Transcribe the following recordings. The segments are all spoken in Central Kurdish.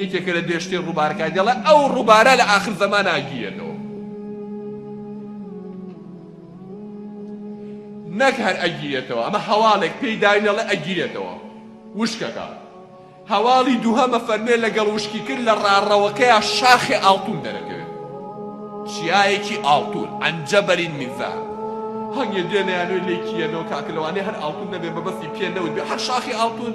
یەکێکە لە بێشترین ڕووبارەکان، دەڵێت ئەو ڕووبارە لە ئاخر زەمانا گیرێتەوە. نەک هەر ئەگیرێتەوە، ئەمە هەواڵێک پێی داوین دەڵێت ئەگیرێتەوە، وشکەکە. هەواڵی دووهەمە فەرمێ لەگەڵ وشکیکرد لە ڕاڕەوەکەیا شاخێ ئاڵتوون دەرەکەوێت. چیایەکی ئاڵتوون، عن جبل من ذهب. هەنگێ دێنە یانۆی لێی کییەنەوە، کاکە لەوانەیە هەر ئاڵتوون نەبێ، مەبەستی پێ نەوتبێ، هەر شاخی ئاڵتوون!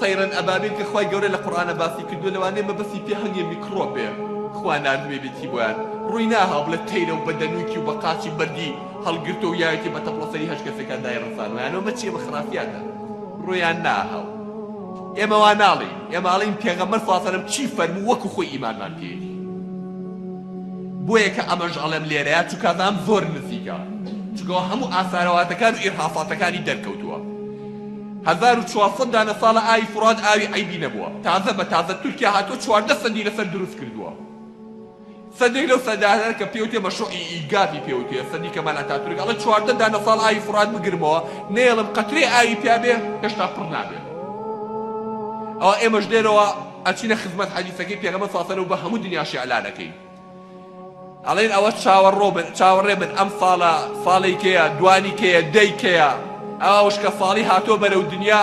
طیرا ابابیل کە خوای گەورە لە قورئانا باسی کردووە لەوانەیە مەبەستی پێ هەنگێ میکڕۆپێ خوا ناردبێ بێتی بۆیان ڕووی ناهاو بڵێ تەیرە و بە دەنووکی و بە قاچی بەردی هەڵگرتە و یاوێتی بە تەپڵە سەری هەشت کەسێکان دای ڕەسانویان ئەمە چیە بە خرافیاتە ڕوویان ناهاو ئێمە وا ناڵین ئێمە ئاڵین پێغەمبەر صلی الله علیه و چی فەرموو وەکو خۆی ئیمانمان پێیەتی بۆیە کە ئەمەش ئەڵێم لێرەیە چونکە ئەزانم زۆر نزیکە چونکەوە هەموو ئاسارەواتەکان و ئیرهاساتەکانی دەرکەوتووە هەزار و چوار سەد دانە ساڵە ئاوی فورات ئاوی عەیبی نەبووە تازە بە تازە تورکیا هاتووە چواردە سەدی لەسەر دروست کردووە سەدێک لەو سەدانە کە پێی وتێ مەشروعی ئیگازی پێ وتێ سەدی کەمال ئەتاتورک ئەڵێ چواردە دانە ساڵ ئاوی فورات بگرمەوە نەیەڵم قەترەی ئاوی پیا بێ هێشتا پڕ نابێ ئەوە ئێمەش لێرەوە ئەچینە خزمەت حەدیسەکەی پێغەمبەر صلی الله علیه و سلم بە هەموو دنیاش ئیعلانەکەین ئەڵێن ئەوە چاوەڕۆ بن چاوەڕێ بن ئەم فاڵە فاڵی کەیە دوانی کەیە دەی کەیە ئەوە وشکە فاڵی هاتۆ بەرەو دنیا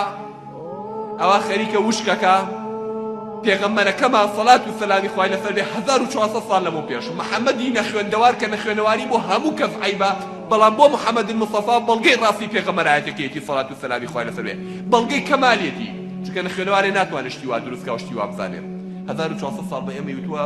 ئەوە خەریکە وشکەکە پێغەمبەرەکەمان سەڵات و سەلامی خوای لەسەر بێ 1400 ساڵ لەمە پێش محەممەدی نەخوێندەوار کە نەخوێنەواری بۆ هەموو کەس عیبە بەڵام بۆ محەممەد مصطفا بەڵگەی ڕاستی پێغەمەرایەتەکەیەتی سەڵات و سەلامی خوای لەسەر بێ بەڵگەی کەمالێتی چونکە نەخوێنەوارێ ناتوانێت شتی وا دروستکە و شتی وا بزانێت 1400 ساڵ بە ئێمەی وتووە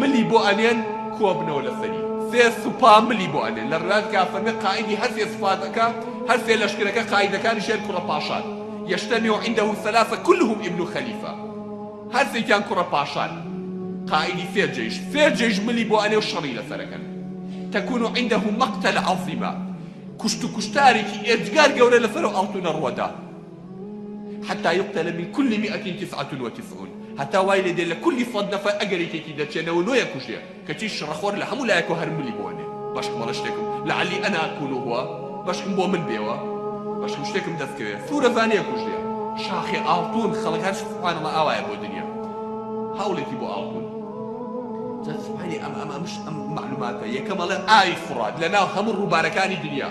ملی بۆ ئەنێن کۆبنەوە لەسەری سێ سوپا ملی بۆ ئەنێن لە ڕێنان تکا فەرمێ قائیدی هەر سێ سوپاکە هەر سێ لەشکرەکە قائیدەکانیشیان کوڕە پاشان یەشتەمی و عندە سەلاسە کلهم ابن خلیفە هەر سێکیان کوڕە پاشان قائیدی سێ جەیش سێ جەیش ملی بۆ ئەنێ و شەڕی لەسەرەکەن تەکون و عندە مەقتەل عەزیمە کوشت و کوشتارێکی ئێجگار گەورە لەسەر ئەڵتونە ڕوەدا. حتی یقتل من کل مئة تسعة وتسعون هەتا وای لێ دێ لە کولی سەد نەفەر ئەگەر یەکێکی دەرچێ نەوە نۆیە کوژێ کەچی شڕە خۆر لە هەموو لایەکەوە هەر ملی بۆ ئەنێ بەشکم ئەڵێ شتێکم لعلی انا اکون هو بەشکم بۆ من بێوە بەشکم شتێکم دەست کەوێ سورە زانیە کوژێ شاخێ ئاڵتون خەڵک هەر سبحان الله ئاوایە بۆ دنیا هەوڵێکی بۆ ئاڵتون جا سبحانی ئەم ئەم ئەمش ئەم معلوماتە یەکەم ئەڵێ ئاوی فڕات لە ناو هەموو ڕووبارەکانی دنیا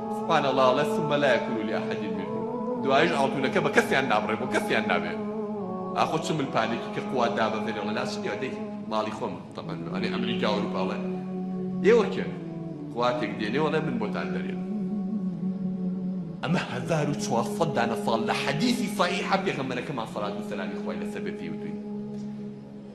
سبحان اللە ئەڵێ ثم لا یکون لأحد منه دوایش ئاڵتونەکە بە کەسیان نابڕێ بۆ کەسیان نابێ ئاخۆ چ مل پانێکی کە قوات دابەزێنێ ئەڵێ نا چ نیە دەی ماڵی خۆم تەبەن ئەڵێ ئەمریکا ئەوروپا ئەڵێ ئێوە کێن قواتێک دێنێ ئەڵێ من بۆتان دەرێن ئەمە هەزار و چوار سەد دانە ساڵ لە حەدیسی صحیحە پێغەمبەرەکەمان صلات و سەلامی خوای لەسەر بێ پێی وتوین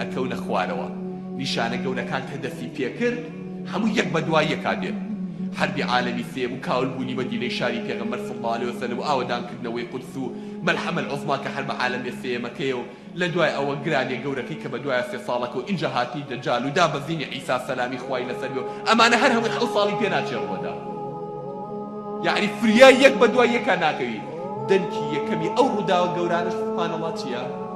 ئەکەونە خوارەوە نیشانە گەورەکان کە دەستی پێکرد هەموو یەک بە دوای یەکا دێت حەربی عالەمی سێم و کاول بوونی مەدینەی شاری پێغەمبەر صلی اللە علیە وسلم و ئاوەدان کردنەوەی قودس و ملحمە العظما کە حەربە عالەمیە سێیەمەکەیە و لە دوای ئەوە گرانیە گەورەکەی کە بە دوایە سێ ساڵەکە و ئینجا هاتنی دەجال و دابەزینی عیسا سەلامی خوای لەسەر بێ و ئەمانە هەر هەمووی حەوت ساڵی پێ ناچێ ڕوەدا یەعنی فریا یەک بە دوای یەکا ناکەوی دەنکی یەکەمی ئەو ڕوداوە گەورانەش سبحان اللە چیە؟